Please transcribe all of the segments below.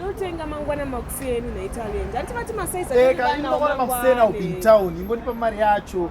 ndotenga mangwana makuseni naitalent hanti vati masaiza eh, makuseni aupintown ingondipa mari yacho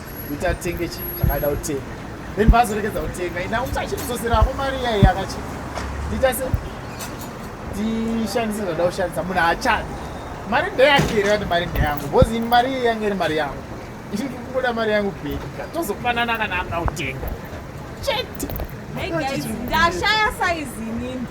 kuti atenge chi zvakaida kutenga then paazorekedza kutenga ina kuti achitizoserapo mari iyaiye akachi ndiita se ndishandise zvoda kushandisa munhu haachadi mari ndeyake here kati mari ndeyangu bcause ini mari iyi yange iri mari yangu ini kubuda mari yangu beka tozofanana kana akautenga chete ndashaya saizi inini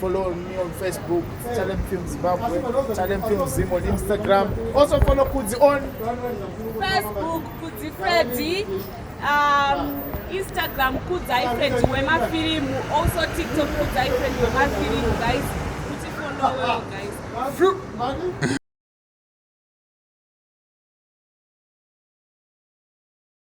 Follow me on Facebook, Talem Film Zimbabwe, Talem Film Zim on Instagram. Also follow Kudzi on Facebook, Kudzi Freddy, um, Instagram, Kudzai Freddy Wema Film, also TikTok, Kudzai Freddy Wema Film, guys. Kudzi follow well, guys.